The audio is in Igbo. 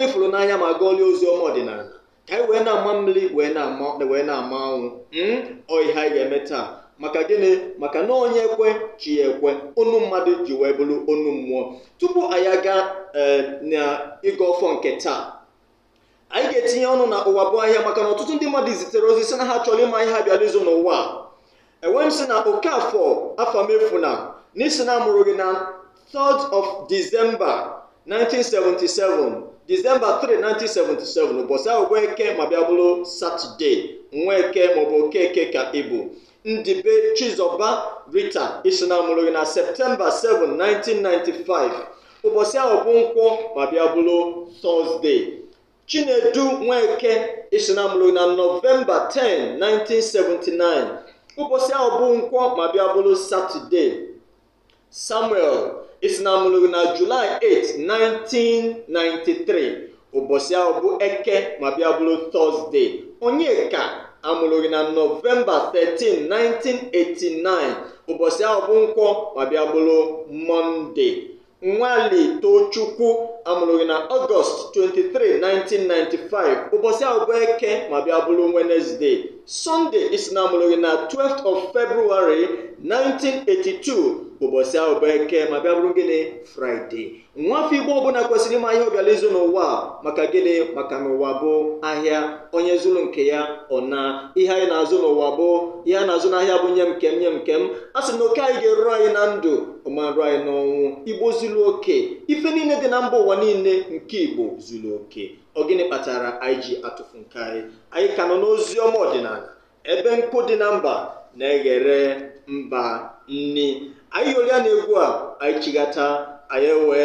fụrụ n'anya ma gụọlie ozi ọma ọdịnala ka anyị wee na-ama mmiri wee na-ama anwụ mm, ọ ihe anyị ga-eme taa maka gịnị maka na onye kwe chi ya ekwe onu mmadụ ji wee bụrụ onu mmụọ tupu anyị aga ee, na ịgọ ọfọ nke taa anyị ga-etinye ọnụ na ụwa bụ ahịa maka na ọtụtụ ndị mmadụ zitere ozi sị na ha chọrọ ịma ihe ha bịara ịzụ n'ụwa a. enwe m si na okafọ afamefuna ị sị na a mụrụ gị na 3rd of December 1977 December 3 1977 ụbọchị ahụ bụ eke ma bịa bụrụ satọde nweke maọbụ okeke ka ị bụ ndibe chizọba rita ị sị na a mụrụ gị na septemba 7 1995 ụbọchị ahụ bụ nkwọ ma bịa bụrụ tọzdee Chinedu Nweke ị sị na a mụrụ gị na Nọvemba 10, 1979 ụbọchị ahụ bụ nkwọ ma bịa bụrụ Satọde Samuel ị sị na a mụrụ gị na Julaị 8, 1993 ụbọchị ahụ bụ Eke ma bịa bụrụ Tọzde Onyeka a mụrụ gị na Nọvemba 13, 1989 ụbọchị ahụ bụ nkwọ ma bịa bụrụ Mọnde Nwali Tochukwu a mụrụ gị na Ọgọst 23, 1995 ụbọchị ahụ bụ eke ma bịa bụrụ Wenezde Sọnde ị sị na a mụrụ gị na 12th of February 1982 ụbọchị ahụ bụ eke ma bịa bụrụ gịnị Fraịde nwafọ Igbo ọbụla kwesịrị ịma ihe ọ bịara ịzụ n'ụwa a, maka gịnị maka na ụwa bụ ahịa onye zụrụ nke ya ọ naa ihe anyị na-azụ n'ụwa bụ ihe a na-azụ n'ahịa bụ nye m nke m nye m nke m a sị na oke anyị ga-eru anyị na ndụ ọ ma-eru anyị n'ọnwụ igbo zuru oke ife niile dị na mba ụwa niile nke igbo zuru oke ọ gịnị kpatara anyị ji atụfu nke anyị anyị ka nọ n'ozi ọma ọdịnala ebe nkụ dị na mba na-eghere mba nni anyị yolia na egwu a anyị chighata anyị wee